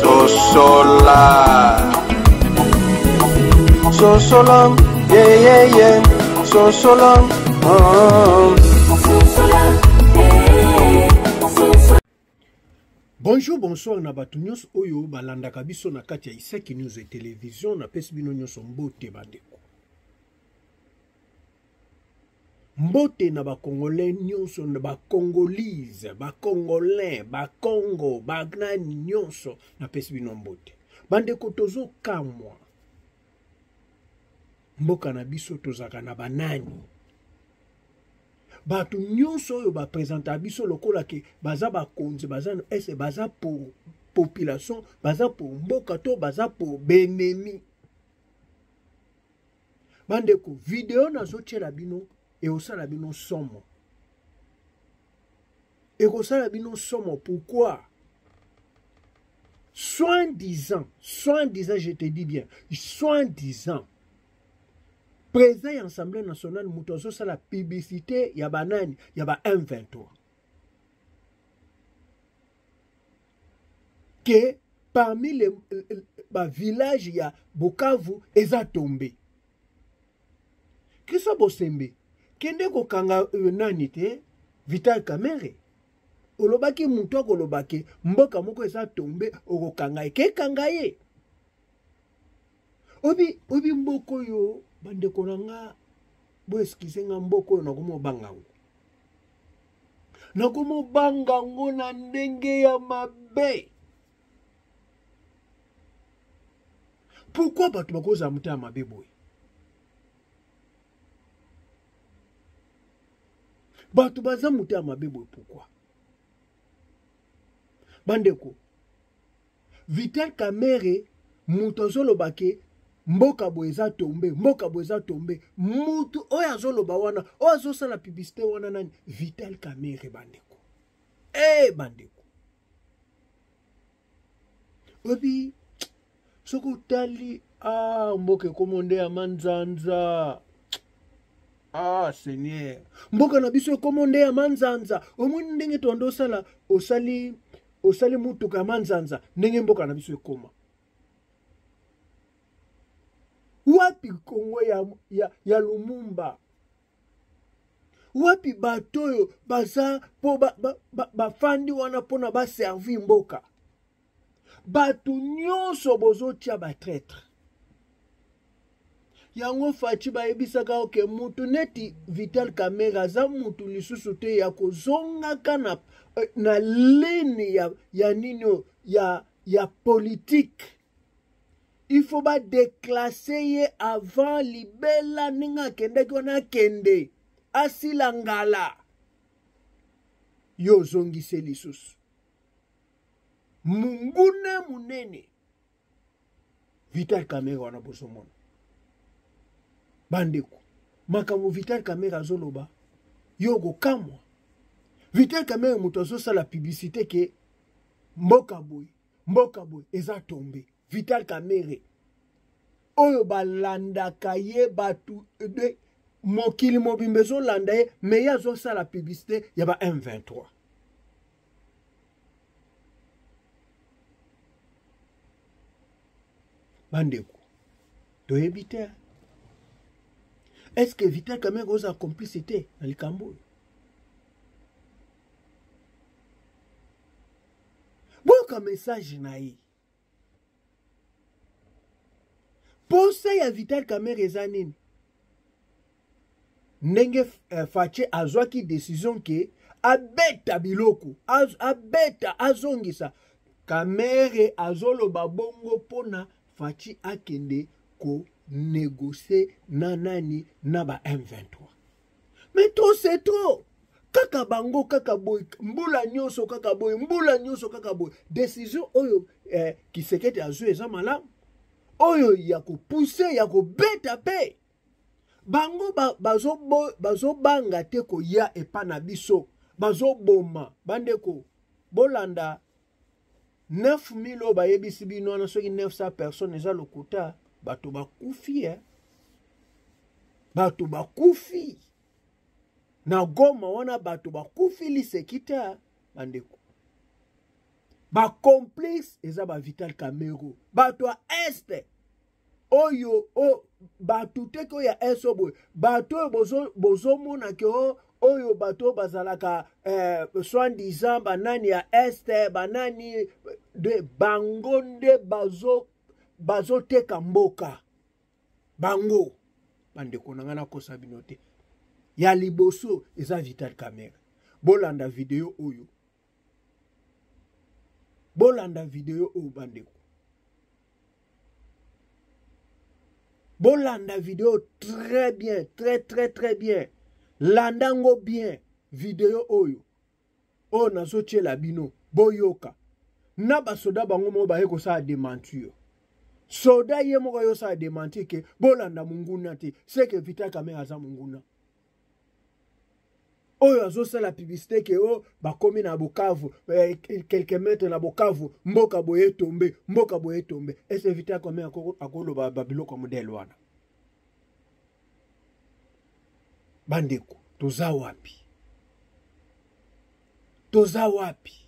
sosola sosola yeyeye sosola bonjour bonsoir na bato nyonso oyo balandaka biso na kati ya isaki news ya televizio napesi bino nyonso mbote bandeko mbote na bacongolais nyonso na bacongolise bacongolais bacongo banani nyonso napesi bino mbote bandeko tozokamwa mboka na biso tozalaka na banani bato nyonso oyo baprezentaka biso lokola ke baza bakonzi baza ese baza pour population baza pour mboka to baza pour benemi bandeko video nazotyela bino ekosala bino somo ekosala bino somo pourquoi soin disant soin disant je te dis bien soin disant président ya assemblée nationale moto azosala publicité ya banani ya ba m23 que parmi les ba village ya Bukavu eza tombe Christian Bosembe kende kokanga euh, nani te Vital Kamerhe olobaki moto akoloba ke mboka moko eza tombe okokanga ye kekanga ye obi obi mboka oyo bandeko na nga boeskize nga mboka oyo nakomi obanga yango nakomobanga yango na ndenge ya mabe pourkui bato bakozala motema mabe boye bato baza motema mabe boye pourkui bandeko Vital Kamerhe moto azoloba ke mboka boye eza tombe mboka boye eza tombe moto oyo azoloba wana oyo azosala publicité wana nani Vital Kamerhe bandeko e bandeko oyebi soki otali ah, mboka ekomo nde ya manzanza ah seigneur mboka na biso ekomo nde ya manzanza omoni ndenge toanda osala osali osali mutuka ya manzanza ndenge mboka na biso ekoma wapi kongo ya, ya, ya lumumba wapi bato oyo baza mpo bafandi ba, ba, ba wana mpona baservi mboka bato nyonso bozotya batraitre yango faci bayebisaka oke mutu neti vital kamere aza mutu lisusu te ya kozongaka na, eh, na lini ya, ya nini oyo ya, ya politike il faut badeklase ye avant libela ndenge akendaki wana akende asila ngala yo ozongise lisusu munguna munene vital kamere wana bozomona bandeko makambo vital kamere azoloba yo okokamwa vital kamere moto azosala publicité ke mboka boye mboka boye eza tombe vital kamere oyo balandaka ye bato de mokili mobimba ezolanda ye me ye azosala publicité ya ba m23 bandeko toyebi te estce vital kamere oza complicité na likambo oyo boyoka message na ye posa ya vital kamere eza nini ndenge uh, fache azwaki decision ke abeta biloko az, abeta azongisa kamere azoloba bongo mpona fachi akende konegocie na nani na ba m23 mais trop c'est trop kaka bango kaka boye mbula nyonso kaka boye mbula nyonso kaka boye décision oyo eh, kisekete azwi eza malamu oyo ya kopuse ya kobeta mpe bango bazobanga bazo te koya epa na biso bazoboma bandeko bolanda 9000 oyo bayebisi bino wana soki 900 personnes eza lokuta bato bakufi eh? bato bakufi na goma wana bato bakufi liseki te eh? bandeko bacomplice eza bavital camero bato ya este oyo o bato te ko ya eso boye bato oyo bozomona bozo ke o oh, oyo bato bazalaka eh, soin disant banani ya este banani de bango nde bazo bazoteka mboka bango bandeko na ngai nakosa bino te ya liboso eza vital camera bolanda video oyo bolanda video oyo bandeko bolanda video très bien très très très bien landa yango bien video oyo oyo nazotyela bino boyoka na basoda bango moko baye kosala dementure soda ye moko ayosala dementure ke bolanda monguna te seke vita kamere aza monguna oyo azosala publicité ke o oh, bakomi na bukavu eh, quelque mètre na bukavu mboka boye etombe mboka boye etombe ese evite akome akoloba babiloko ya modele wana bandeko toza wapi toza wapi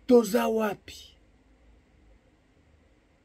toza wapi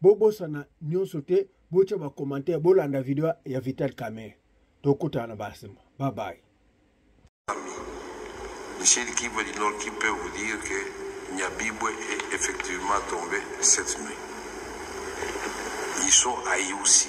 bobosana nyonso te botya bacommentaire bolanda video ya vital camere tokutana na basima babaye Michel Kibo du Nord qui peut vous dire que Nyabibwe est effectivement tombé cette nuit. Ils sont haïs aussi.